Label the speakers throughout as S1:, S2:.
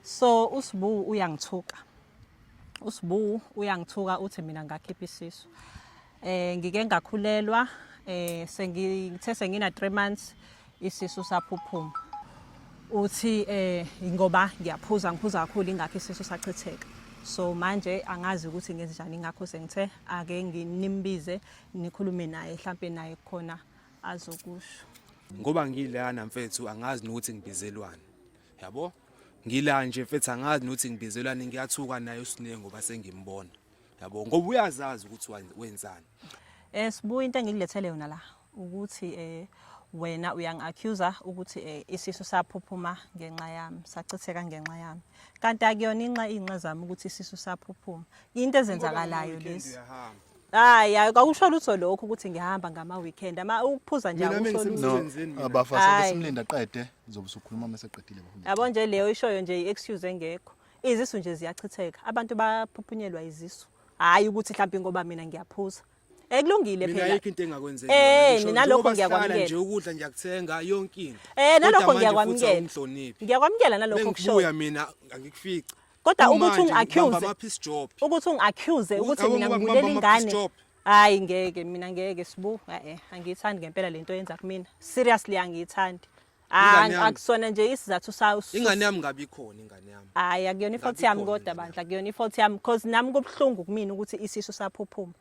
S1: So uSbu uyangithuka. USbu uyangithuka uthi mina ngakhipha isisu. Eh ngike ngakhulelwa eh sengithe sengina 3 months isisu saphuphuma. Uthi eh ngoba ngiyaphuza ngiphuza kakhulu ingakho isisu sachitheka. So manje angazi ukuthi ngenzenjani ingakho sengithe ake nginimbize nikhulume naye mhlambe naye khona azokusho. Ngoba
S2: ngilana mfethu angazi nokuthi ngibizelwani. yabo ngila nje mfethu angazi nokuthi ngibizelwani ngiyathuka naye uSine ngoba sengimbona yabo ngoba uyazazi ukuthi wenzani eh sibuya
S1: into engikulethele yona la ukuthi eh wena uyangi-accuser ukuthi eh, isisu saphuphuma ngenxa yami sachitheka ngenxa yami kanti akuyona inxa iy'nxa zami ukuthi isisu saphuphuma into ezenzakalayo lezi hayi hayi kakusho lutho lokho ukuthi ngihamba ngama weekend ama ukuphuza nje Mina akusho lutho mengisemsebenzini. No, abafase Hayi. besimlinda
S3: qede zobe usukhuluma mase qedile bafuna. yabo nje leyo ishoyo nje
S1: i-excuse engekho izisu nje ziyachitheka abantu baphuphunyelwa izisu hhayi ukuthi mhlawumbe ngoba mina ngiyaphuza ekulungile mina phela ayikho into engakwenzeki Eh,
S2: Ngisho mina nje lokho ukuba ngiyakwamukela.
S1: sihlala nje ukudla ngiyakuthenga
S2: yonke into um Kodwa nalokho manje futhi ngiyakwamukela
S1: awungihloniphi. ngiyakwamukela nalokho kushoyo bengibuya mina
S2: angikufici kodwa ukuthi
S1: ungi-accuse ukuthi ungi-accuse ukuthi mina ngibulela ingane hayi ngeke mina ngeke sibu e-e angiyithandi ngempela le nto yenza kumina seriously angiyithandi akusona nje isizathu sawo ingane yami ngabe ikhona
S2: ingane yami hayi akuyona ifault yami
S1: kodwa bandla akuyona ifault yami because nami kubuhlungu kumina ukuthi isisu saphuphuma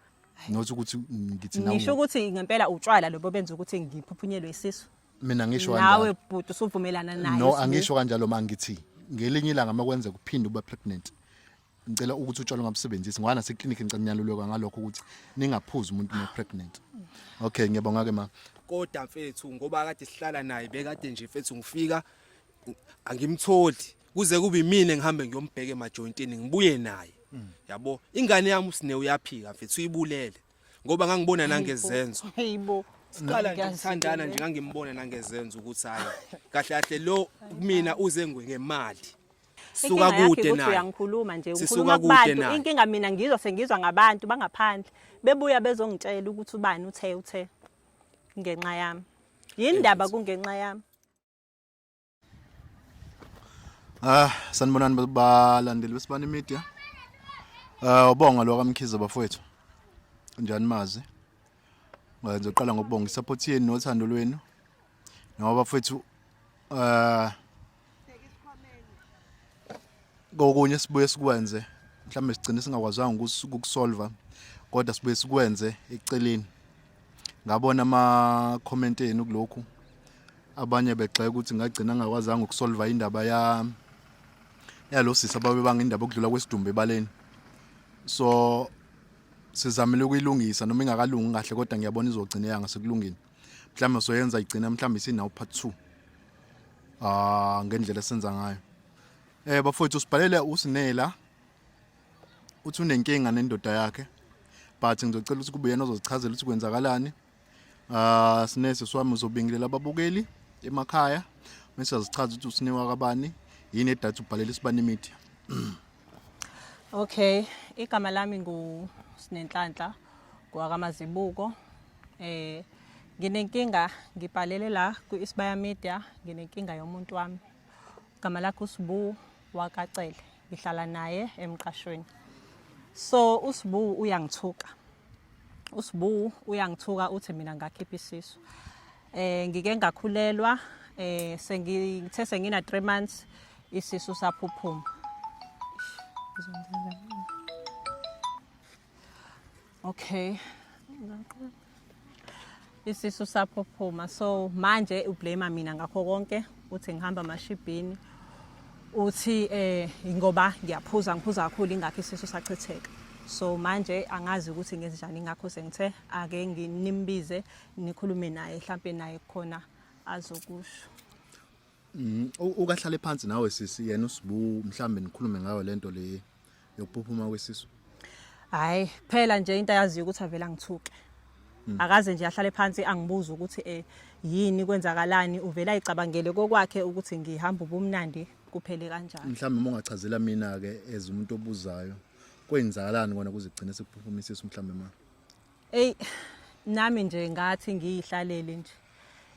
S1: not ukuthi
S3: ngithi nawe ngisho ukuthi ngempela
S1: utshwala lobo benza ukuthi ngiphuphunyelwe isisu mina ngisho kanjalo
S3: nawe bhuti usuvumelana
S1: naye no angisho kanjalo
S3: mangithi ngelinye ilanga makwenze kuphinde ube pregnant ngicela ukuthi utshwala ungabusebenzisi ngoba nase clinic ngicela niyalulekwa ngalokho ukuthi ningaphuzi umuntu no pregnant okay ngiyabonga ke ma kodwa mfethu
S2: ngoba kade sihlala naye bekade nje mfethu ngifika angimtholi kuze kube imina engihambe ngiyombheka emajointini ngibuye naye yabo ingane yami usine uyaphika mfethu uyibulele ngoba ngangibona nangezenzo hayibo
S1: siqala nje
S2: ukuthandana nje ngangimbona nangezenzo ukuthi hayi kahle kahle lo kumina uze ngemali suka kude naye uyangikhuluma nje ukhuluma
S1: kubantu inkinga mina ngizwa sengizwa ngabantu bangaphandle bebuya bezongitshela ukuthi ubani uthe uthe ngenxa yami yini ndaba kungenxa yami
S3: Ah, sanibonani balandeli besibani media. Ah, ubonga lo kaMkhize bafowethu. Njani mazi? Ngizoqala ngokubonga isupport yenu nothando lwenu. Ngoba bafowethu ah kokunye sibuye sikwenze mhlawumbe sigcine singakwazanga ukusolva kodwa sibuye sikwenze eceleni ngabona ama-comment enu kulokhu abanye begxeka ukuthi ngagcina ngakwazanga ukusolva indaba ya yalo sisi ababebanga indaba okudlula kwesidumbu ebaleni so sizamile ukuyilungisa noma ingakalungi kahle kodwa ngiyabona izogcina yanga sekulungile mhlawumbe soyenza igcina mhlawumbe isinawo part 2 ah ngendlela esenza ngayo eh bafowethu sibhalele usinela uthi unenkinga nendoda yakhe but ngizocela ukuthi kube yena ozozichazela ukuthi kwenzakalani ah sinese swami uzobingelela ababukeli emakhaya mase azichaza ukuthi usinewa kabani yini edatha ubhalela isibani media
S1: Okay, igama lami ngu Sinenhlanhla kwakamazibuko. Eh nginenkinga ngibhalele la ku Isibaya Media, nginenkinga yomuntu wami. Igama lakhe uSbu wakacele. ngihlala naye emqashweni so usibu uyangithuka usibu uyangithuka uthi mina ngakhipha isisu eh ngike ngakhulelwa eh sengithe sengina 3 months isisu saphuphuma okay isisu saphophuma so manje ublame mina ngakho konke uthi ngihamba amashibhini uthi eh ngoba ngiyaphuza ngiphuza kakhulu ingakho isisu sachitheka so manje angazi ukuthi ngenze njani ngakho sengithe ake nginimbize nikhulume naye mhlambe naye khona azokusho mm,
S3: ukahlale phansi nawe sisi yena usibu mhlambe nikhulume ngayo lento le yokuphuphuma kwesisu hayi
S1: kuphela nje into ayaziyo ukuthi avela ngithuke hmm. akaze nje ahlale phansi angibuza ukuthi eh yini kwenzakalani uvela icabangele kokwakhe ukuthi ngihamba ubumnandi kuphele kanjani mhlawumbe uma ungachazela
S3: mina ke as umuntu obuzayo kwenzakalani kona kuze kugcine sekuphuphumise isu mhlawumbe ma ey nami
S1: nje ngathi ngiyihlalele nje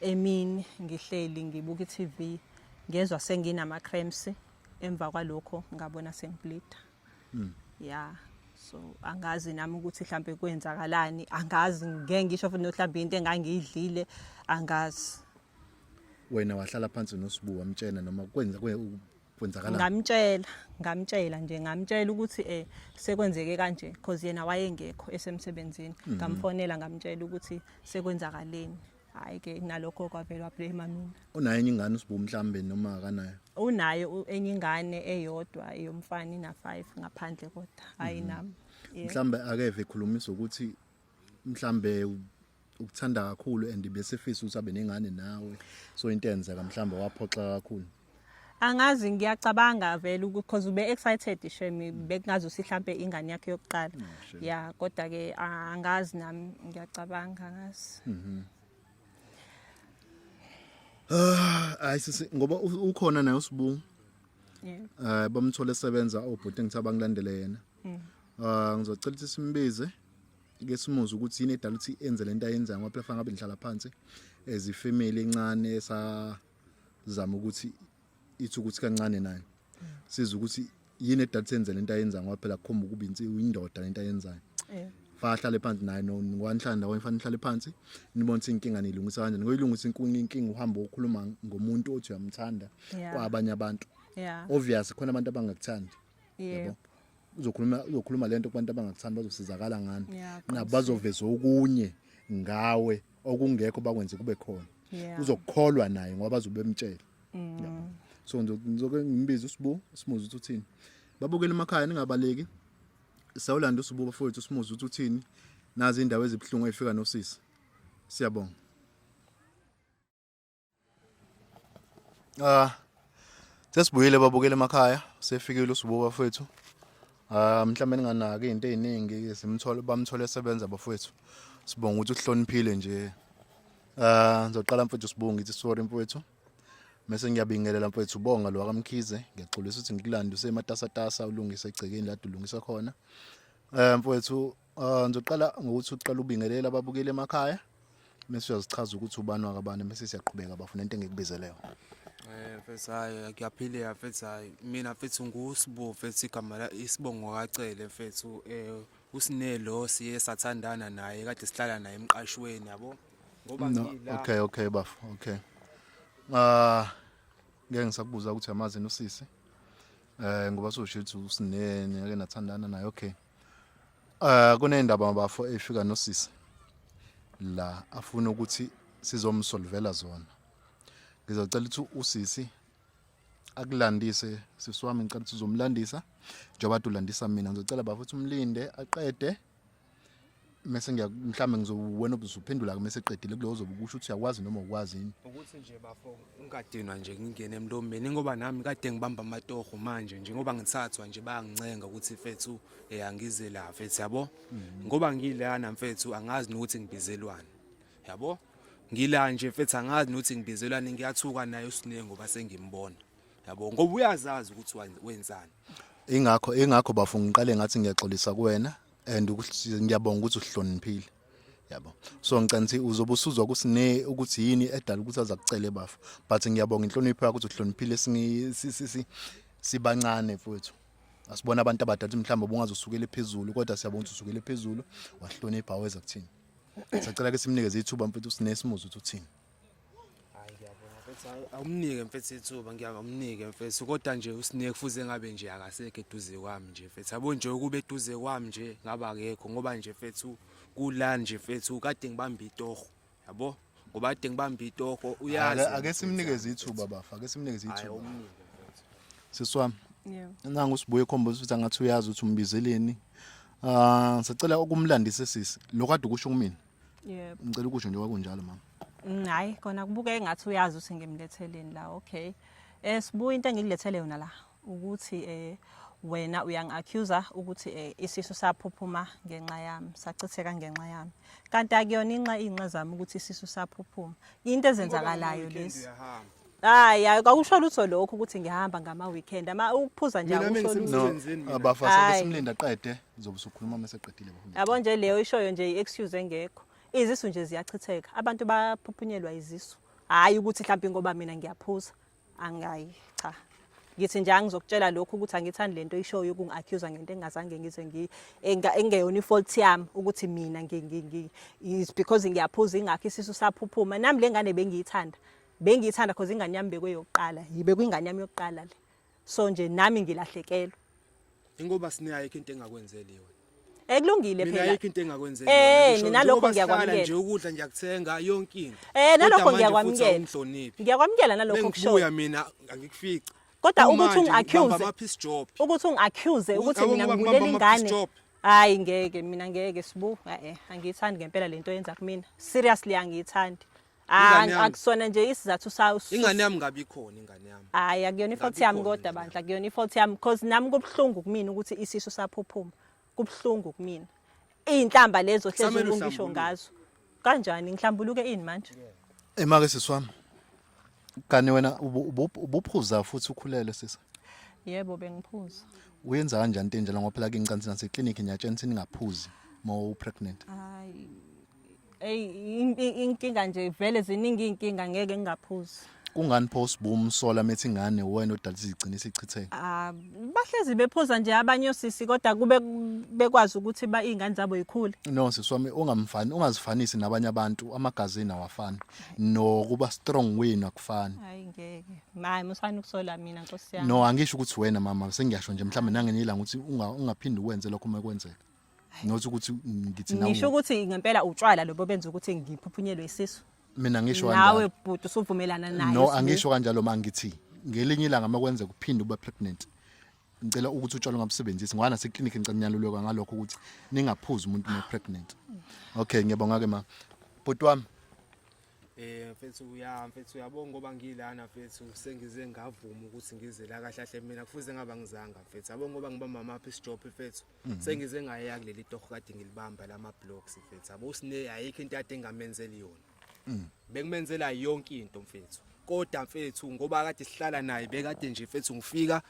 S1: emini ngihleli ngibuka iTV ngezwa senginama cramps emva kwalokho ngabona sengibleeda mm. ya so angazi nami ukuthi mhlambe kwenzakalani angazi ngeke ngisho futhi nohlamba into engangiyidlile angazi
S3: wena wahlala phansi nosibu wamtshena noma kwenza kwenzakala ngamtshela ngamtshela nje
S1: ngamtshela ukuthi eh sekwenzeke kanje because yena wayengekho esemsebenzini mhm. ngamfonela ngamtshela ukuthi sekwenzakaleni hayi ke nalokho kwavele wablema mina unayo enye ingane usibu
S3: mhlambe noma akanayo unaye u- enye
S1: ingane eyodwa eyomfana ina 5 ngaphandle kodwa hayi nami Yeah. mhlambe akeve
S3: ekhulumisa ukuthi mhlambe u- ukuthanda kakhulu and besefisa ukuthi abe nengane nawe so into enzeka mhlambe waphoxa kakhulu angazi
S1: ngiyacabanga vele ukuthi cause ube excited shame bekungazi usihlampe ingane yakhe yokuqala mm, ya kodwa ke angazi nami ngiyacabanga ngazi mhm.
S3: ah, hayi sisi ngoba ukhona naye usibu
S1: eh bamthole esebenza
S3: obhuti ngithi abangilandele yena mm. ah ngizocela ukuthi simbize ke simuze ukuthi yini edala ukuthi enze lento ayenzayo ngoba phela fanele ngabe ngihlala phansi as ifamily encane sa zama ukuthi ithi ukuthi kancane nayo siza ukuthi yini edade senze lento ayenza ngoba phela kukhomba ukuba insiwu indoda lento ayenzayo eh. fa ahlale phansi naye ngwanhlanda wayefana ihlale phansi nibona ukuthi inkinga nilungisa kanjani ngoyilungisa inkinga inkinga uhamba okhuluma ngomuntu othi uyamthanda kwabanye abantu obvious
S1: khona abantu
S3: abangakuthandi yebo
S1: uzokhuluma
S3: uzokhuluma lento kubantu abangakuthandi bazosizakala ngani nabo bazoveza okunye ngawe okungekho bakwenze kube khona Yeah. uzokukholwa
S1: naye ngoba
S3: bazobe bemtshela Yabo. so ngizo- ngizoke ngimbize usibu simuze ukuthi uthini babukele emakhaya ningabaleki sawulanda usibu bafowethu simuze ukuthi uthini nazi indawo ezibuhlungu eyifika nosisi siyabonga Ah sesibuyile babukele emakhaya sefikile usibuka bafethu. Ah mhlawumbe ninganaki izinto eziningi simthole bamthole esebenza bafethu. Sibonga ukuthi uhloniphile nje. Ah ngizoqala mfethu sibonga ngithi sorry mfethu. Mese ngiyabingelela mfethu ubonga lo akamkhize ngiyaxolisa ukuthi ngikulande usematasatasa ulungise egcekeni la dulungisa khona. Eh mfethu Uh, ngizoqala ngokuthi uqala ubingelela ababukeli emakhaya mese uyazichaza ukuthi ubani wakabani mese siyaqhubeka bafuna into engikubizeleyo Eh mfethu
S2: hayi ngiyaphileka mfethu hayi mina mfethu nguSbo mfethu igama la isibongo kacele mfethu eh usinelo siye sathandana naye kade sihlala naye emqashweni yabo ngoba no, ngila okay okay bafo okay
S3: ah uh, ngeke ngisakubuza ukuthi yamazini usisi eh ngoba sosho ukuthi usinene ake nathandana naye okay Eh kunendaba bafo efika nosisi la afuna ukuthi sizomsolvela zona. Ngizocela ukuthi usisi akulandise sisi wami ngicela ukuthi uzomlandisa njengoba ulandisa mina ngizocela bafo ukuthi umlinde aqede mese ngiya mhlambe ngizowena ubuzuphendula ke mese qedile kuleyo zobe kusho ukuthi uyakwazi noma ukwazi yini ukuthi nje bafo
S2: ungadinwa nje ngingene emlombeni ngoba nami kade ngibamba amatoho manje nje ngoba ngithathwa nje bayangicenga ukuthi mfethu eh angize la mfethu yabo mhm. ngoba ngilana mfethu angazi nokuthi ngibizelwani yabo ngila nje mfethu angazi nokuthi ngibizelwani ngiyathuka naye usinenge ngoba sengimbona yabo ngoba uyazazi ukuthi wenzani ingakho
S3: ingakho bafo ngiqale ngathi ngiyaxolisa kuwena and ngiyabonga ukuthi uhloniphile yabo so ngicela ukuthi uzobe usuzwa ukuthi ne ukuthi yini edala ukuthi aza kucele bafo but ngiyabonga inhlonipho yakho ukuthi uhloniphile sibancane futhi asibona abantu abadala ukuthi mhlawumbe ubungaze usukele phezulu kodwa siyabona ukuthi usukele phezulu wahlonipha weza kuthini sacela ke simnikeze ithuba mfethu usinesimuzi ukuthi uthini hayi
S2: ngiyabonga mfethu hayi awumnike mfethu ithuba ngiyakamnike mfethu kodwa nje usine kufuze ngabe nje akasekho eduze kwami nje mfethu yabo nje ukube eduze kwami nje ngaba akekho ngoba nje mfethu kula nje mfethu kade ngibamba itoho yabo ngoba kade ngibamba itoho uyazi Ake- ake simnikeze
S3: ithuba bafa ake simnikeze hayi ithuba awumnike mfethu sisi wami Yebo.
S1: nangu usibuye ekhomba
S3: ukuthi angathi uyazi ukuthi umbizeleni um sicela ukumlandise sisi lokho ade ukusho kumina Yebo. Ngicela
S1: ukusho nje kwakunjalo
S3: mama. Mm, hayi kona kubuke
S1: engathi uyazi ukuthi ngimletheleni la okay. Eh sibu into engikulethele yona la ukuthi eh wena uyangi-accuser ukuthi eh, isisu saphuphuma ngenxa yami sachitheka ngenxa yami kanti akuyona inxa iy'nxa zami ukuthi isisu saphuphuma into ezenzakalayo lesi Hayi, hayi, kwakusho lutho lokho ukuthi ngihamba ngama weekend. Ama ukuphuza nje Mina akusho lutho. mengisemsebenzini mina. Abafase
S3: Hayi. besimlinda aqede zobe sokhuluma mase qedile bahulumeni. Yabo nje leyo ishoyo nje
S1: i-excuse engekho. Izisu nje ziyachitheka. Abantu baphuphunyelwa izisu. Hayi ukuthi mhlawumbe ngoba mina ngiyaphuza. Angayi cha. Ngithi nje angizokutshela lokho ukuthi angithandi lento ishoyo yokungi-accuse ngento engingazange ngize ngi enga- engeyona i-fault yami ukuthi mina ngi ngi ngi is because ngiyaphuza ingakho isisu saphuphuma. Nami lengane bengiyithanda. bengiyithanda cause ingane yami bekweyokuqala yibe kwingane yami yokuqala le so nje nami ngilahlekelwe ingoba
S2: sinayo ke into engakwenzeli yona ekulungile phela
S1: mina ayikho into engakwenzela
S2: eh mina lokho ngiyakwamukela
S1: nje ukudla ngiyakuthenga
S2: yonke into eh nalokho
S1: ngiyakwamukela ngiyakwamukela nalokho kusho bengibuya mina
S2: angikufica kodwa ukuthi
S1: ungiaccuse ukuthi ungiaccuse ukuthi mina ngibulela ingane hayi ngeke mina ngeke sibu eh angiyithandi ngempela lento yenza kumina seriously angiyithandi Ingane yami. akusona nje isizathu sa us- ingane yami ngabe ikhona
S2: ingane yami hayi akuyona ifault Ngabe yami
S1: ikhona kodwa nje. bandla akuyona ifault yami because nami kubuhlungu kumina ukuthi isisu saphuphuma kubuhlungu kumina iy'nhlamba lezo hlezi Samele ungisho uhlambuluke. ngazo kanjani ngihlambuluke ini manje Emake sisi
S3: wami. Kani wena ubu- ubu- ubuphuza futhi ukhulele sisi. yebo
S1: bengiphuza Uyenza kanjani
S3: into enjalo ngoba phela kincansi nase clinic niyatshena ukuthi ningaphuzi uma u pregnant. hayi
S1: eyi inkinga nje vele ziningi iy'nkinga ngeke ngingaphuzi kungani pho
S3: sibumsola methi ingane wena odala izigcina isichitheke ah bahlezi
S1: bephuza nje abanye osisi kodwa kube bekwazi ukuthi ba izingane zabo yikhule no siswami
S3: ungamfani ungazifanisi nabanye abantu amagazini awafani nokuba strong wena kufani hayi ngeke mayi musani
S1: ukusola mina nkosi yami no angisho ukuthi wena mama
S3: sengiyasho nje mhlawumbe nangenye ilanga ukuthi ungaphindi uwenze lokho uma kwenzeka not ukuthi ngithi nawe ngisho ukuthi ngempela
S1: utshwala lobo benza ukuthi ngiphuphunyelwe isisu mina ngisho kanjalo
S3: nawe bhuti usuvumelana
S1: naye no angisho kanjalo
S3: mangithi ngelinye ilanga makwenza kuphinde ube pregnant ngicela ukuthi utshwala ungabusebenzisi ngwana seclinic ngicela niyalulekwa ngalokho ukuthi ningaphuzi umuntu no pregnant okay ngiyabonga ke ma bhuti wami Eh mfethu uya
S2: mfethu uyabonga ngoba ngilana mfethu sengize ngavuma ukuthi ngize la kahle kahle mina kufuze ngaba ngizanga mfethu yabonga ngoba ngiba mama apha isijophe mfethu Mhm. sengize ngaya kuleli torho kade ngilibamba lama blocks mfethu yabo usine ayikho into kade engamenzeli yona mhm. bekumenzela yonke into mfethu kodwa mfethu ngoba kade sihlala naye bekade nje mfethu ngifika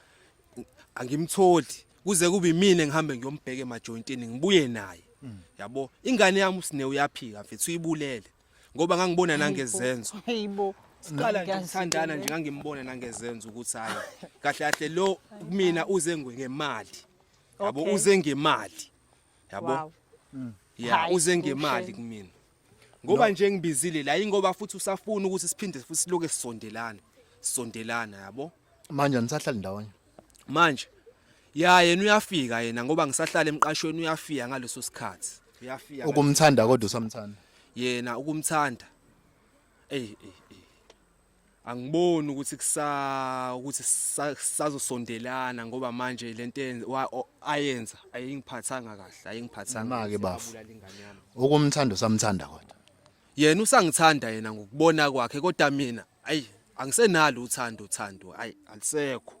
S2: angimtholi kuze kube imina ngihambe ngiyombheka emajointini ngibuye naye mhm. yabo ingane yami usine uyaphika mfethu uyibulele ngoba ngangibona nangezenzo hayibo
S1: siqala nje
S2: ukuthandana nje ngangimbona nangezenzo ukuthi hayi kahle kahle lo mina uze ngemali yabo Okay. uze ngemali yabo Wow. ya Hayi, uze ngemali kuhle. kumina ngoba nje ngibizile la ingoba futhi usafuna ukuthi siphinde futhi siloke sisondelana sisondelana yabo manje nisahlala
S3: ndawonye manje
S2: ya yena uyafika yena ngoba ngisahlala emqashweni uyafika ngaleso sikhathi uyafika ukumthanda kodwa
S3: usamthanda yena
S2: ukumthanda eyi eyi angiboni ukuthi kusa ukuthi sazosondelana ngoba manje lento ayenza ayingiphathanga kahle ayingiphathanga manje bafu
S3: okumthanda usamthanda kodwa yena
S2: usangithanda yena ngokubona kwakhe kodwa mina ayi angisenalo uthando uthando ayi alisekho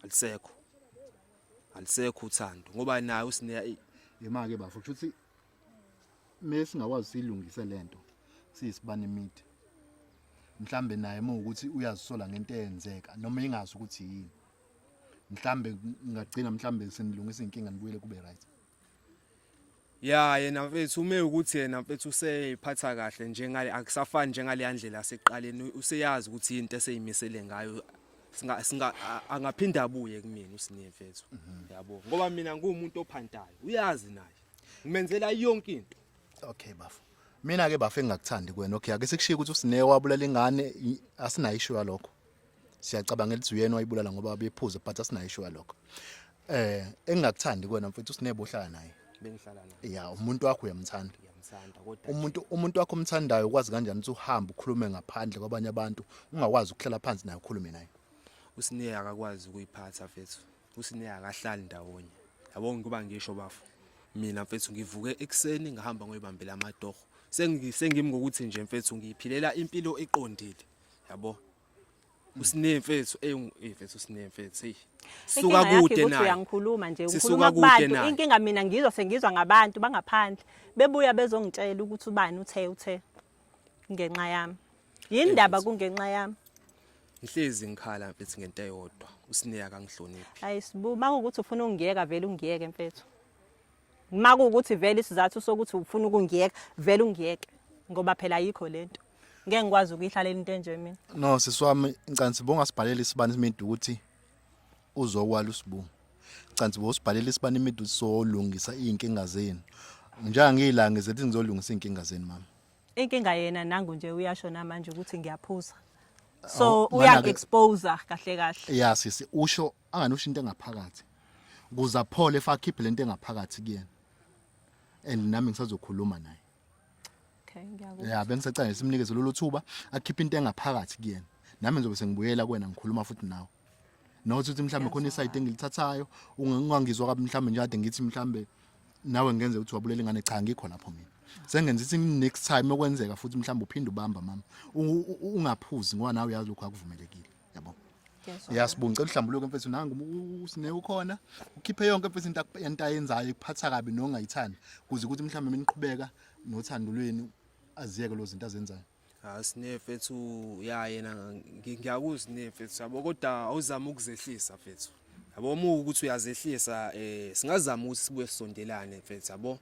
S2: alisekho alisekho uthando ngoba naye usine imake bafu
S3: ukuthi me singakwazi siyilungise lento siyisibani midi mhlambe naye uma ukuthi uyazisola ngento eyenzeka noma ingazi ukuthi yini mhlambe ngagcina mhlambe senilungisa inkinga nibuyele kube right ya
S2: yena mfethu ume ukuthi yena mfethu useyiphatha kahle njengale akusafani njengale yandlela yaseqaleni useyazi ukuthi into eseyimisele ngayo singa singa angaphinda abuye kumina usinye mfethu mhm. yabo ngoba mina ngumuntu ophantayo uyazi naye ngimenzela yonke into okay bafo
S3: mina ke bafo engakuthandi kwena okay ake sikushiye ukuthi usine wabulala ingane asinayo isho yalokho siyacabanga elithi uyena wayibulala ngoba bephuza but asinayo isho yalokho eh engakuthandi kwena mfethu usinebo ohlala naye bengihlala naye ya
S2: umuntu wakho uyamthanda
S3: uyamthanda kodwa umuntu umuntu wakho omthandayo ukwazi kanjani ukuthi uhambe ukhulume ngaphandle kwabanye abantu ungakwazi ukuhlala phansi naye ukhulume naye usineya
S2: akakwazi ukuyiphatha fethu usine akahlali ndawonye yabo ngikuba ngisho bafo mina mfethu ngivuke ekuseni ngihamba ngoyibambela amatoho sengimi ngokuthi nje mfethu ngiyiphilela impilo eqondile yabo usine mfethu ey mfethu usine mfethu hey suka kude naye uyangikhuluma nje ukhuluma
S1: kubantu inkinga mina ngizwa sengizwa ngabantu bangaphandle bebuya bezongitshela ukuthi ubani uthe uthe ngenxa yami yini ndaba kungenxa yami ngihlezi
S2: ngikhala mfethu ngento eyodwa usineya kangihloniphi hayi sibu makuwukuthi
S1: ufuna ungiyeka vele ungiyeke mfethu makuwukuthi vele isizathu sokuthi ufuna ukungiyeka vele ungiyeke ngoba phela ayikho lento ngeke ngikwazi
S3: ukuyihlalela
S1: into enje
S3: mina
S1: no
S3: siswami ngicela sibonga
S1: sibhalele
S3: isibani
S1: simedu
S3: ukuthi uzowala usibu cansi bosibhalela isibani imidu solungisa izinkinga zenu njenga ngiyilanga zethi ngizolungisa izinkinga zenu mama inkinga yena
S1: nangu nje uyasho namanje ukuthi ngiyaphuza so uyangi-expose
S3: kahle
S1: kahle ya sisi usho
S3: angani usho into engaphakathi kuze aphole fa akhiphe lento engaphakathi kuyena and nami ngisazokhuluma naye okay
S1: ngiyakuzwa ya bengisacela simnikeze
S3: lolu thuba akhiphe into engaphakathi kuyena nami ngizobe sengibuyela kuwena ngikhuluma futhi nawe not ukuthi mhlawumbe khona isayidi engilithathayo ungangizwa kabi mhlawumbe nje kade ngithi mhlawumbe nawe ngenze ukuthi wabulela ingane cha ngikho lapho mina sengenza ithi next time okwenzeka futhi mhlawumbe uphinde ubamba mama ungaphuzi ngoba nawe uyazi lokho akuvumelekile yabo yasibunga cela uhlambuluke mfethu nangu usine ukhona ukhiphe yonke mfethu into yento ayenzayo ikuphatha kabi nongayithandi kuze ukuthi mhlawumbe miniqhubeka nothandulweni aziyeke lozinto azenzayo Ah sine fethu
S2: ya yena ngiyakuzwa ne fethu sabo kodwa awuzama ukuzehlisa fethu. Yabo uma ukuthi uyazehlisa eh singazama ukuthi sibuye sondelane fethu yabo.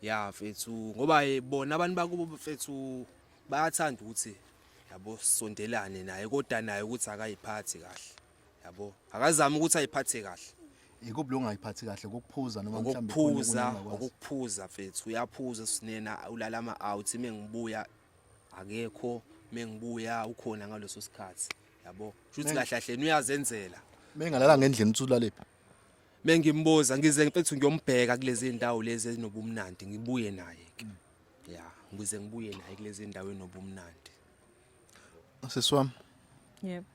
S2: Ya fethu ngoba bona abantu bakubo fethu bayathanda ukuthi yabo sondelane naye kodwa naye ukuthi akayiphathi kahle. yabo akazama ukuthi ayiphathe kahle ikuphi lo ngayiphathi
S3: kahle ukuphuza noma mhlawumbe ukuphuza ukuphuza
S2: mfethu uyaphuza sinena ulala ama out mengibuya akekho mengibuya ukhona ngaloso sikhathi yabo shuthi kahle kahle uyazenzela mengalala ngendlela
S3: utsulaliphi mengimbuza
S2: ngize mfethu ngiyombheka kulezi ndawo lezi ezinobumnandi ngibuye naye ke ya ngize ngibuye naye kulezi ndawo enobumnandi
S3: Sisi wami.
S1: Yebo.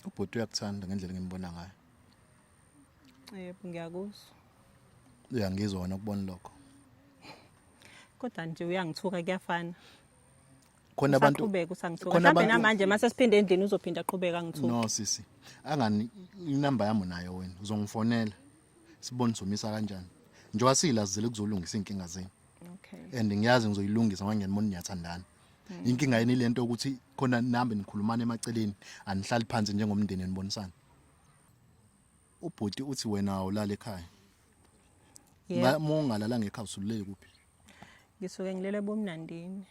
S1: Ubhuti
S3: uyakuthanda ngendlela engimbona ngayo.
S1: Yebo ngiyakuzwa.
S3: Uyangizwa wena ukubona lokho.
S1: Kodwa nje uyangithuka kuyafana.
S3: khona abantu qhubeka usangithuka mhlawumbe
S1: namanje mase
S3: siphinde
S1: endlini uzophinda qhubeka ngithuka no sisi
S3: angani inamba yami nayo wena uzongifonela sibone somisa kanjani njengoba siyilazile kuzolungisa inkinga zenu okay and
S1: ngiyazi ngizoyilungisa
S3: ngoba ngiyanibona niyathandana Hmm. Inkinga yini lento ukuthi khona nambe nikhulumana emaceleni anihlali phansi njengomndeni nibonisana. Ubhuti uthi wena awulala ekhaya.
S1: Yeah. Uma ungalala ngekhaya
S3: usululele kuphi? Ngisuke
S1: ngilele ebumnandini.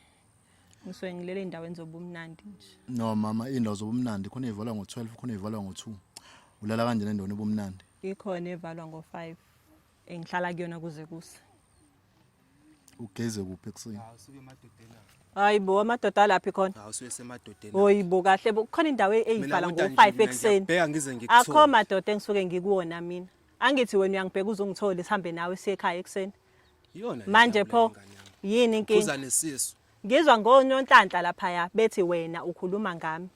S1: Ngisuke ngilele endaweni zobumnandi nje. No mama, indawo
S3: zobumnandi khona ivalwa ngo-12 khona ivalwa ngo-2. Ulala kanjani endaweni ebumnandi? Ikhona evalwa
S1: ngo-5. engihlala kuyona kuze kuse
S3: ugeze kuphi ekuseni
S2: hayi bo amadoda
S1: alaphi khona
S2: hoyi bo kahle bo
S1: kukhona indawo e- eyivala ngo-five ekuseni akho
S2: madoda
S1: engisuke
S2: ngikuwona
S1: mina angithi wena uyangibheka uze ungithole sihambe nawe siye ekhaya ekuseni manje
S2: pho
S1: yini inkinga
S2: ngizwa ngononhlanhla
S1: laphaya bethi wena ukhuluma ngami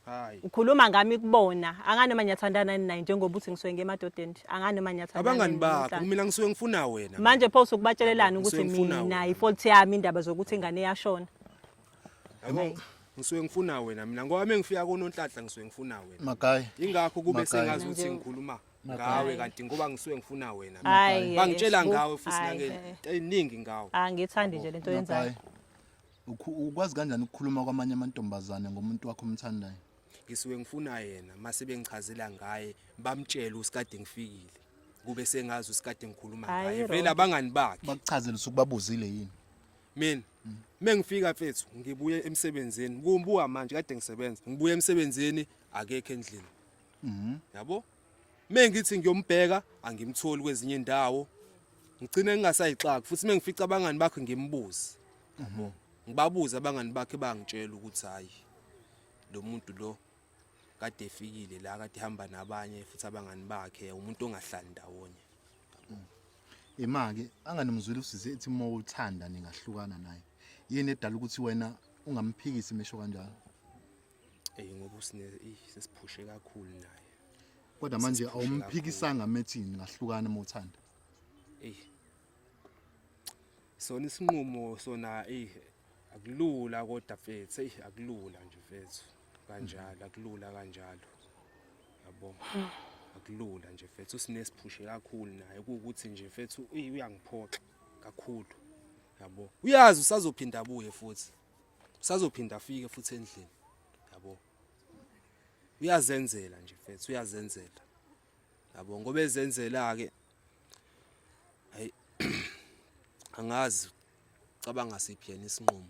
S2: Hayi. Ukhuluma ngami
S1: kubona. Angani noma niyathandana ninayi njengoba uthi ngisuke ngemadodeni. Angani noma niyathandana. Abangani bakho mina
S2: ngisuke ngifuna wena. Manje pho usukubatshelelana
S1: ukuthi mina ifault
S2: yami
S1: indaba zokuthi ingane yashona. Yabo
S2: ngisuke ngifuna wena mina ngoba mengifika kononhlanhla ngisuke ngifuna wena. Makai. Ingakho kube
S3: sengazi
S2: ukuthi ngikhuluma ngawe kanti ngoba ngisuke ngifuna wena bangitshela
S1: ngawe futhi
S2: nange eyiningi ngawe angithandi nje lento
S1: yenzayo
S3: ukwazi kanjani ukukhuluma kwamanye amantombazane ngomuntu wakho omthandayo ngisuke ngifuna
S2: yena mase bengichazela ngaye bamtshele usikade ngifikile kube sengazi usikade ngikhuluma Hayi, ngaye vele Rocky. abangani bakhe bakuchazele usuku babuzile
S3: yini mina
S2: mengifika mfethu ngibuye emsebenzini kumbuka manje kade ngisebenza ngibuye emsebenzini akekho endlini yabo mengithi ngiyombheka angimtholi kwezinye indawo ngicine ngingasayixaki futhi mengifica abangani bakhe ngimbuze yabo ngibabuza abangani bakhe bangitshela ukuthi hayi lo muntu lo kade efikile la kade hamba nabanye futhi abangani bakhe umuntu ongahlali ndawonye
S3: imake anganimzwile usize ethi uma uthanda ningahlukana naye yini edala ukuthi wena ungamphikisi mesho kanjalo Ey
S2: ngoba usine sesiphushe kakhulu naye. Kodwa manje
S3: awumphikisanga methini ngahlukana uma uthanda. Ey.
S2: Sona isinqumo sona ey akulula kodwa mfethu ey akulula nje mfethu kanjalo akulula kanjalo. Yabo. Akulula nje mfethu usinesiphushe kakhulu naye ukuthi nje mfethu uyangiphoxa kakhulu. Yabo. Uyazi usazophinda abuye futhi. usazophinda afike futhi endlini yabo uyazenzela nje mfethu uyazenzela yabo ngoba ezenzela ke ay angazi cabanga siphi yena
S1: isinqumo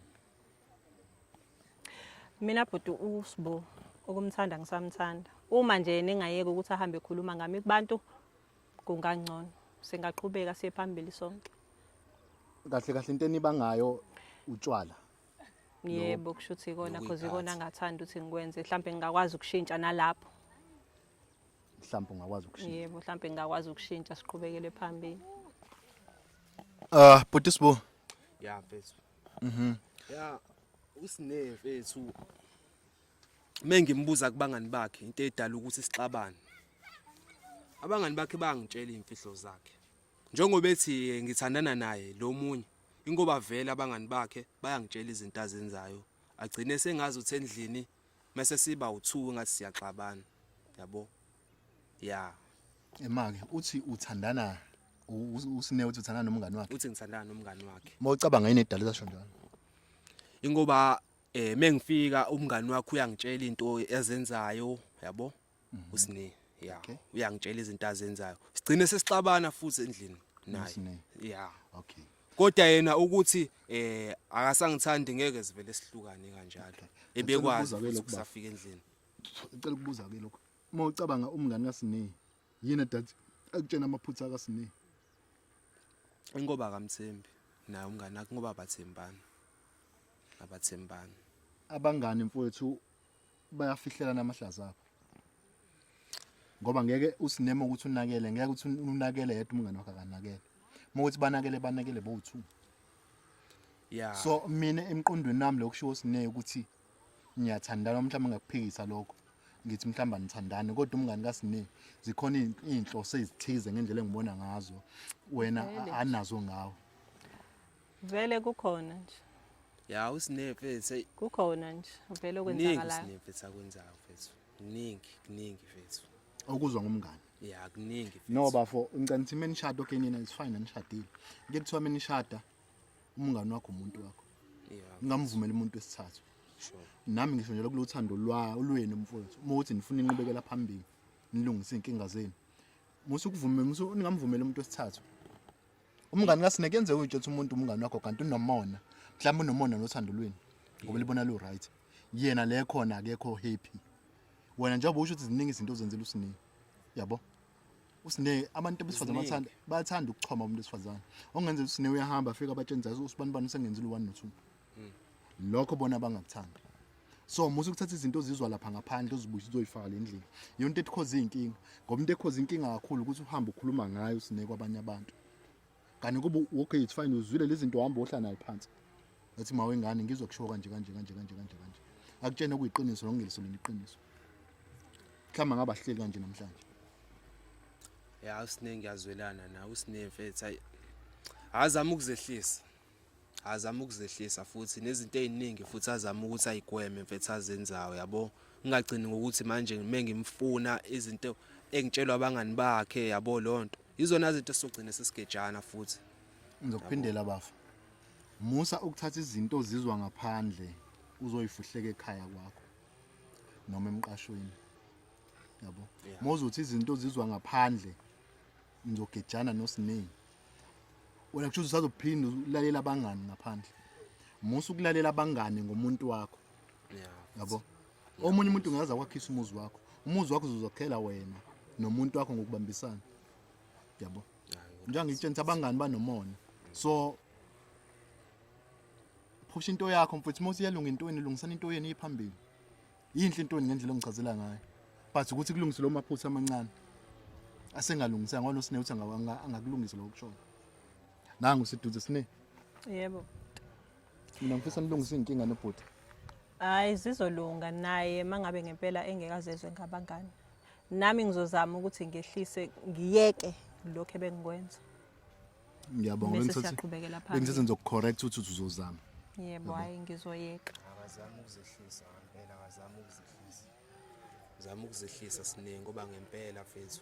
S2: mina
S1: bhuti usbo okumthanda ngisamthanda uma nje ningayeka ukuthi ahambe ekhuluma ngami kubantu kungangcono singaqhubeka siye phambili sonke kahle
S3: kahle into eniba ngayo utshwala
S1: yebo kusho ukuthi ikona cause ikona ngathanda ukuthi ngikwenze mhlawumbe ngingakwazi ukushintsha nalapho
S3: mhlawumbe ungakwazi ukushintsha yebo mhlawumbe ngingakwazi
S1: ukushintsha siqhubekele phambili ah
S3: bhuti sibo ya mfethu
S2: mhm ya usine mfethu uma ngimbuza kubangani bakhe into edala ukuthi sixabane abangani bakhe bangitshela imfihlo zakhe njengoba ethi eh, ngithandana naye lo munye ingoba vele abangani bakhe bayangitshela izinto azenzayo agcine sengazi uthi endlini mase siba u2 ngathi siyaxabana yabo ya emake
S3: uthi uthandana usine uthi uthandana nomngani wakhe uthi ngithandana nomngani
S2: wakhe mawucabanga yini edala zasho
S3: njalo ingoba
S2: eh mengifika umngani wakho uyangitshela into ezenzayo yabo mhm. usine yeah okay. uyangitshela
S3: izinto
S2: azenzayo sigcine sesixabana futhi endlini naye yeah
S3: okay
S2: kodwa
S3: yena
S2: ukuthi eh akasangithandi ngeke sivele sihlukane kanjalo ebekwazi ukusafika
S3: endlini
S2: ngicela ukubuza
S3: ke lokho uma ucabanga umngani kasine yini dad akutshena amaphutha kasine
S2: ingoba kamthembi naye umngani akhe ngoba bathembana abathembani
S3: abangani mfowethu bayafihlela amahlaza abo ngoba ngeke usineme ukuthi unakele ngeke ukuthi unakele yedwa umngane wakhe akanakele uma ukuthi banakele banakele bowu-two
S2: yeah. so mina
S3: emqondweni nami lokushiwo sineye ukuthi ngiyathandana mhlawumbe ngakuphikisa lokho ngithi mhlawumbe anithandani kodwa umngani kasine zikhona iy'nhloso ezithize ngendlela engibona ngazo wena anazo ngawo
S1: vele kukhona nje ya
S2: usinefe se kukhona nje
S1: vele okwenzakalayo usinefe
S2: sakwenzayo mfethu kuningi kuningi mfethu okuzwa ngomngane
S3: ya kuningi mfethu
S2: no bafo ngicela ukuthi
S3: menishada okay nina is fine anishadile ngeke kuthiwa menishada umngane wakho umuntu wakho ngingamvumela
S2: umuntu
S3: wesithathu nami
S2: ngisho nje lokulo
S3: uthando lwenu mfowethu uma uthi nifuna inqubekela phambili nilungise iy'nkinga zenu musukuvume ningamvumela umuntu wesithathu umngani kasineke yenze utsho ukuthi umuntu umngani wakho kanti unomona mhlawumbe unomona nothando lweni ngoba libona lu right yena le khona akekho happy wena njengoba usho ukuthi ziningi izinto ozenzela usineke yabo usine abantu besifazane bathanda bathanda ukuchoma umuntu wesifazane ongenzela usine uyahamba afika abatsheni zazi usibanibani usengenzile u1 no2 hmm. lokho bona bangakuthandi so musa ukuthatha izinto ozizwa lapha ngaphandle uzibuyise uzoyifaka le ndlela yona into etikhoza iy'nkinga ngoba into ekhoza inkinga kakhulu ukuthi uhambe ukhuluma ngayo usineke kwabanye abantu kanti kuba okay it's fine uzwile lezi zinto uhamba ohla nayo phansi ethi mawe ngane ngizwa kushiwo kanje kanje kanje kanje kanje kanje akutshena kuyiqiniso nokungeliso lona iqiniso mhlawumbe ngaba hleli kanje namhlanje
S2: ya usiningi yazwelana nawe usinemfethu ayi azama ukuzehlisa azama ukuzehlisa futhi nezinto eziningi futhi azama ukuthi ayigweme mfethu azenzayo yabo ngingagcini ngokuthi manje ngime ngimfuna izinto engitshelwa abangani bakhe yabo lonto izona izinto esizogcina sesigejana futhi ngizokuphindela
S3: bafa musa ukuthatha izinto ozizwa ngaphandle uzoyifuhleka ekhaya kwakho noma emqashweni yabo mozuthi izinto ozizwa ngaphandle ngizogejana nosiningi wena kusho usazophinda ulalela abangani ngaphandle musa ukulalela abangani ngomuntu wakho yabo omunye umuntu ungaza kwakhisa umuzi wakho umuzi wakho uzozokhela wena nomuntu wakho ngokubambisana yabo njengangitshengisa abangani banomona so phusha into yakho mfowethu uma usiyalunga intweni lungisana into yenu iphambili yinhle intoni ngendlela ongichazela ngayo but ukuthi kulungise lo maphutha amancane asengalungisanga ngoba nosine uthi angakulungisa lokho kushona nangu siduze sine yebo mina ngifisa nilungise inkinga nobhuti hayi
S1: zizolunga naye mangabe ngempela engekazezwe ngabangani nami ngizozama ukuthi ngehlise ngiyeke lokho ebengikwenza
S3: ngiyabonga Bese bengithathe siyaqhubekela
S1: phambili. bengithathe ngizokucorrect ukuthi uthi
S3: uzozama yebo hayi
S1: ngizoyeka akazama ukuzehlisa
S2: ngempela akazama ukuzehlisa zama ukuzehlisa siningi ngoba ngempela fethu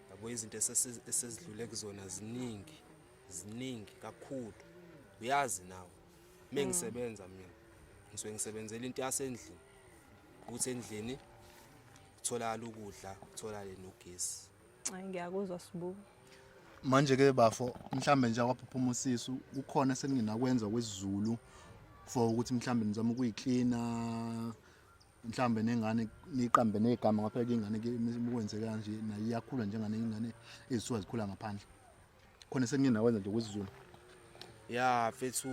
S2: yabo izinto esesi- esezidlule kuzona ziningi ziningi kakhulu uyazi nawe uma ngisebenza mina ngisuke ngisebenzela into yasendlini ukuthi endlini kutholakala ukudla kutholakale nogesi Hayi ngiyakuzwa
S1: Sibu. Manje ke
S3: bafo mhlambe nje akwaphuma usisi ukhona eseninginakwenza kwesiZulu for ukuthi mhlambe nizama ukuyiklina mhlambe nengane niqambe negama ngaphela ingane ke imikwenze kanje nayo iyakhula njengane ingane ezisuka zikhula ngaphandle. Khona seninginakwenza nje kwesiZulu. Ya
S2: fethu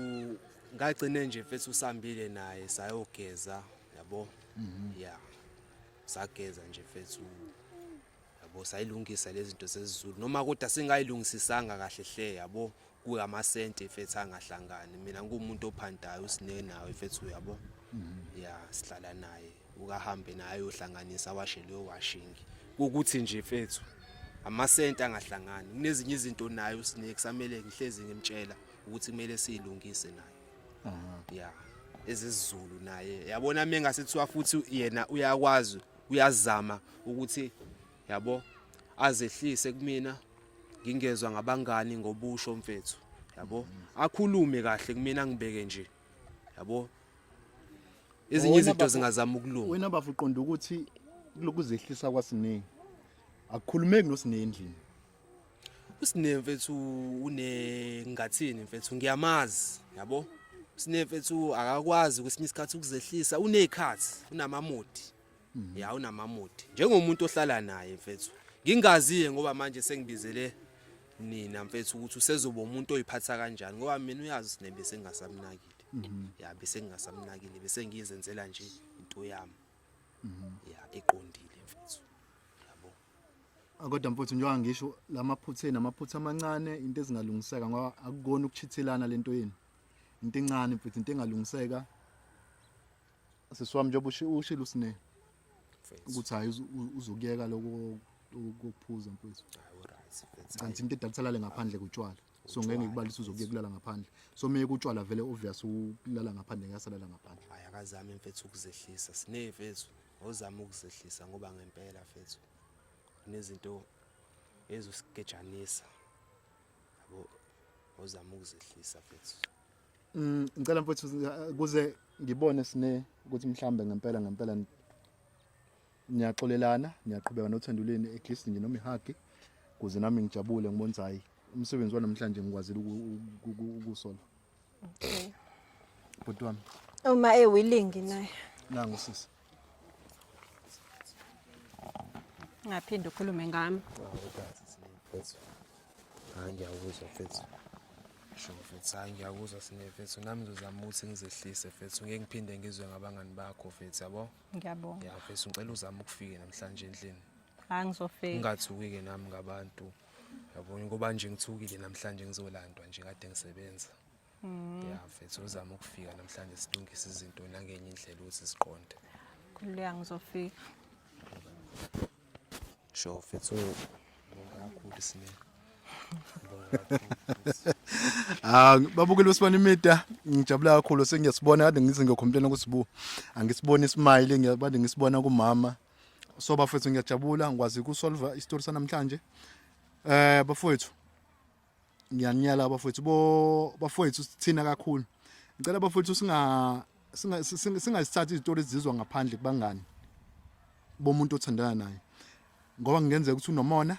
S2: ngagcine nje fethu usambile naye sayogeza yabo. Mhm. Yeah. Sageza nje fethu yabo sayilungisa lezi zinto zezizulu noma kodwa singayilungisisanga kahle hle yabo kuyamasente mfethu angahlangani mina ngumuntu ophantayo usine nawe mfethu yabo mhm. ya sihlala naye ukahambe naye ayohlanganisa awashe leyo washing ukuthi nje mfethu amasente angahlangani kunezinye izinto naye usine kusamele ngihlezi ngimtshela ukuthi kumele siyilungise naye ya ezizulu naye yabona mina ngasethiwa futhi yena uyakwazi uyazama ukuthi yabo azehlise kumina ngingezwa ngabangani ngobusho mfethu yabo akhulume kahle kumina ngibeke nje yabo ezinye izinto zingazama ukulunga wena bafuqonda ukuthi
S3: lokuzehlisa kwasiningi akukhulumeki nosinendlini
S2: usine mfethu une ngathini mfethu ngiyamazi yabo usine mfethu akakwazi kwesinye isikhathi ukuzehlisa unezikhathi unamamodi mhm. ya unamamodi njengomuntu ohlala naye mfethu ngingaziye ngoba manje sengibizele nina mfethu ukuthi usezoba umuntu oyiphatha kanjani ngoba mina uyazi sine bese ngingasamnakile mhm. ya bese ngingasamnakile bese ngiyizenzela nje into yami mhm. ya eqondile Kodwa mfuthu njengoba
S3: ngisho lamaphutha namaphutha amancane into ezingalungiseka ngoba akukona ukuchithelana lento yenu. Into encane mfuthu into engalungiseka. Sisiwami njengoba ushilo usine ukuthi hayi uzokuyeka lokho ukuphuza mfuthu. Kanti into edalisalale ngaphandle kutshwala. So ngeke ngikubalise uzokuye kulala ngaphandle. So meye kutshwala vele obvious ukulala ngaphandle ngiyasalala ngaphandle. Hayi akazami mfethu
S2: ukuzehlisa. Sine mfethu. Wozama ukuzehlisa ngoba ngempela fethu kunezinto ezosigejanisa. Yabo wozama ukuzehlisa fethu. Mm
S3: ngicela mfethu kuze ngibone sine ukuthi mhlambe ngempela ngempela niyaxolelana niyaqhubeka nothanduleni at least nje noma ihagi kuze nami ngijabule ngibonza hayi umsebenzi wanamhlanje ngikwazile ukusola
S1: Okay.
S3: Bhuti wami. Uma e willing
S1: naye. Nangu sisi. Ngaphinde ukhulume ngami.
S2: Hayi ngiyakuzwa mfethu. Sho mfethu, hayi ngiyakuzwa sine mfethu. Nami ngizozama ukuthi ngizehlise mfethu. Ngeke ngiphinde ngizwe ngabangani bakho mfethu, yabo? Ngiyabonga. Ya mfethu,
S1: ngicela uzame
S2: ukufika namhlanje endlini. Hayi ngizofika.
S1: Ungathuki-ke nami
S2: ngabantu. yabona ngoba nje ngithukile namhlanje ngizolandwa nje kade ngisebenza mm. ya mfethu uzama ukufika namhlanje silungise izinto nangenye indlela ukuthi siqonde khululeka
S1: ngizofika
S2: sho mfethu ngibonga kakhulu simele Ah
S3: babukile usibona imida ngijabula kakhulu sengiyasibona kade ngithi ngiyokhomplela kusibu angisiboni ismile ngiyabade ngisibona kumama so bafethu ngiyajabula ngikwazi ukusolva isitori sanamhlanje eh bafethu ngiyaniyala abafowethu bo bafowethu sithina kakhulu ngicela abafowethu singa singazithathi izitori ezizizwa ngaphandle kubangani bomuntu othandana naye ngoba kungenzeka ukuthi unomona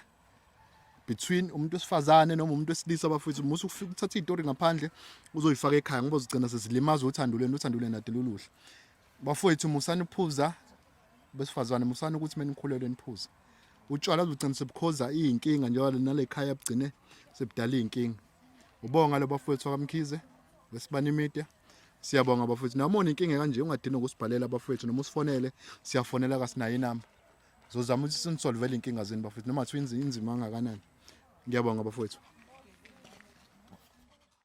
S3: between umuntu wesifazane noma umuntu wesilisa abafowethu musu ufika uthatha izitori ngaphandle uzoyifaka ekhaya ngoba uzigcina sezilimaza uthando lwenu uthando lwenu adeluluhle bafowethu musani ukuphuza besifazane musani ukuthi menikhulelwe niphuze utshwala bugcina sebukhoza iyinkinga njengoba nale khaya bugcine sebudala iyinkinga ubonga lo bafowethu wakamkhize wesibanimide siyabonga bafowethu noma unenkinga kanje ungadini ukusibhalela bafowethu noma usifonele siyafonela kasinayo inamba zozama ukuthi sinisolvele inkinga zenu bafowethu noma kuthiwa inzima kangakanani ngiyabonga bafowethu